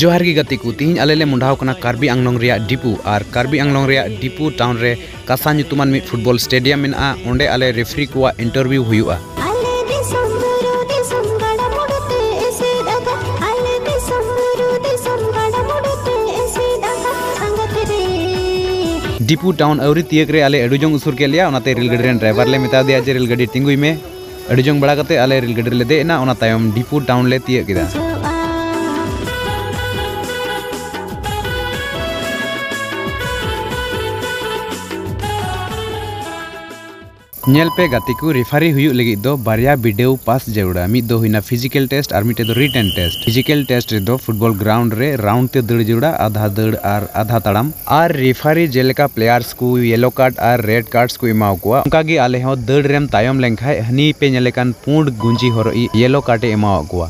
ᱡᱚᱦᱟᱨ ᱜᱮ ᱜᱟᱛᱮ ᱠᱚ ᱛᱤᱦᱤᱧ ᱟᱞᱮ ᱞᱮ ᱢᱚᱰᱟᱣ ᱠᱟᱱᱟ ᱠᱟᱨᱵᱤ ᱟᱝᱞᱚᱝ ᱨᱮᱭᱟᱜ ᱰᱤᱯᱩ ᱟᱨ ᱠᱟᱨᱵᱤ ᱟᱝᱞᱚᱝ ᱨᱮᱭᱟᱜ ᱰᱤᱯᱩ ᱴᱟᱣᱩᱱ ᱨᱮ ᱠᱟᱥᱟ ᱧᱩᱛᱩᱢᱟᱱ ᱢᱤᱫ ᱯᱷᱩᱴᱵᱚᱞ ᱥᱴᱮᱰᱤᱭᱟᱢ ᱢᱮᱱᱟᱜᱼᱟ ᱚᱸᱰᱮ ᱟᱞᱮ ᱨᱮᱯᱷᱨᱤ ᱠᱚᱣᱟᱜ ᱤᱱᱴᱟᱨᱵᱷᱤᱭᱩ ᱦᱩᱭᱩᱜᱼᱟ ᱰᱤᱯᱩ ᱴᱟᱣᱩᱱ ᱟᱹᱣᱨᱤ ᱛᱤᱭᱟᱹᱜ ᱨᱮ ᱟᱞᱮ ᱟᱹᱰᱤ ᱡᱚᱝ ᱩᱥᱩᱨ ᱠᱮᱫ ᱞᱮᱭᱟ ᱚᱱᱟᱛᱮ ᱨᱮᱞ ᱜᱟᱹᱰᱤ ᱨᱮᱱ ᱰᱨᱟᱭᱵᱷᱟᱨ ᱞᱮ ᱢᱮᱛᱟ ᱫᱮᱭᱟ ᱡᱮ ᱨᱮᱞ ᱜᱟᱹᱰᱤ ᱛᱤᱸᱜᱩᱭ ᱢᱮ ᱟᱹᱰᱤ ᱡᱚᱝ ᱵᱟᱲᱟ ᱠᱟᱛᱮ ᱟᱞᱮ ᱨᱮᱞ ᱜᱟᱹᱰᱤ ᱨᱮᱞᱮ ᱫᱮᱡ ᱮᱱᱟ ᱚᱱᱟ ᱛᱟᱭᱚᱢ ᱰᱤᱯᱩ ᱴᱟᱣᱩᱱ ᱞᱮ ᱛᱤᱭᱟᱹᱜ ᱠᱮᱫᱟ ᱧᱮᱞ ᱯᱮ ᱜᱟᱛᱮ ᱠᱚ ᱨᱮᱯᱷᱟᱨᱤ ᱦᱩᱭᱩᱜ ᱞᱟᱹᱜᱤᱫ ᱫᱚ ᱵᱟᱨᱭᱟ ᱵᱤᱰᱟᱹᱣ ᱯᱟᱥ ᱡᱟᱹᱨᱩᱲᱟ ᱢᱤᱫ ᱫᱚ ᱦᱩᱭᱱᱟ ᱯᱷᱤᱡᱤᱠᱮᱞ ᱴᱮᱥᱴ ᱟᱨ ᱢᱤᱫᱴᱮᱡ ᱫᱚ ᱨᱤᱴᱮᱱ ᱴᱮᱥᱴ ᱯᱷᱤᱡᱤᱠᱮᱞ ᱴᱮᱥᱴ ᱨᱮᱫᱚ ᱯᱷᱩᱴᱵᱚᱞ ᱜᱨᱟᱣᱩᱱᱰ ᱨᱮ ᱨᱟᱣᱩᱱᱰ ᱛᱮ ᱫᱟᱹᱲ ᱡᱟᱹᱨᱩᱲᱟ ᱟᱫᱷᱟ ᱫᱟᱹᱲ ᱟᱨ ᱟᱫᱷᱟ ᱛᱟᱲᱟᱢ ᱟᱨ ᱨᱮᱯᱷᱟᱨᱤ ᱡᱮᱞᱮᱠᱟ ᱯᱞᱮᱭᱟᱨᱥ ᱠᱚ ᱭᱮᱞᱳ ᱠᱟᱨᱰ ᱟᱨ ᱨᱮᱰ ᱠᱟᱨᱰᱥ ᱠᱚ ᱮᱢᱟᱣ ᱠᱚᱣᱟ ᱚᱱᱠᱟ ᱜᱮ ᱟᱞᱮ ᱦᱚᱸ ᱫᱟᱹᱲ ᱨᱮᱢ ᱛᱟᱭᱚᱢ ᱞᱮᱱ ᱠᱷᱟᱱ ᱦᱟᱹᱱᱤ ᱯᱮ ᱧᱮᱞᱮ ᱠᱟᱱ ᱯᱩᱸᱰ ᱜᱩᱸᱡᱤ ᱦᱚᱨᱚᱜ ᱤᱡ ᱭᱮᱞᱳ ᱠᱟᱨᱰ ᱮ ᱮᱢᱟᱣᱟᱜ ᱠᱚᱣᱟ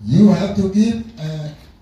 You have to give a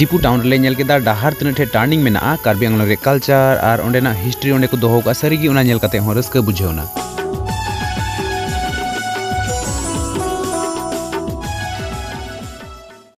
ᱰᱤᱯᱩ ᱴᱟᱣᱩᱱ ᱨᱮᱞᱮ ᱧᱮᱞ ᱠᱮᱫᱟ ᱰᱟᱦᱟᱨ ᱛᱤᱱᱟᱹᱜ ᱴᱷᱮᱡ ᱴᱟᱨᱱᱤᱝ ᱢᱮᱱᱟᱜᱼᱟ ᱠᱟᱨᱵᱤ ᱟᱝᱞᱚᱝ ᱨᱮ ᱠᱟᱞᱪᱟᱨ ᱟᱨ ᱚᱸᱰᱮᱱᱟᱜ ᱦᱤᱥᱴᱨᱤ ᱚᱸᱰᱮ ᱠᱚ ᱫᱚᱦᱚ ᱠᱟᱜᱼᱟ ᱥᱟᱹᱨᱤᱜᱮ ᱚᱱᱟ ᱧᱮᱞ ᱠᱟᱛᱮ ᱦᱚᱸ ᱨᱟᱹᱥᱠᱟᱹ ᱵᱩᱡᱷᱟᱹᱣᱱᱟ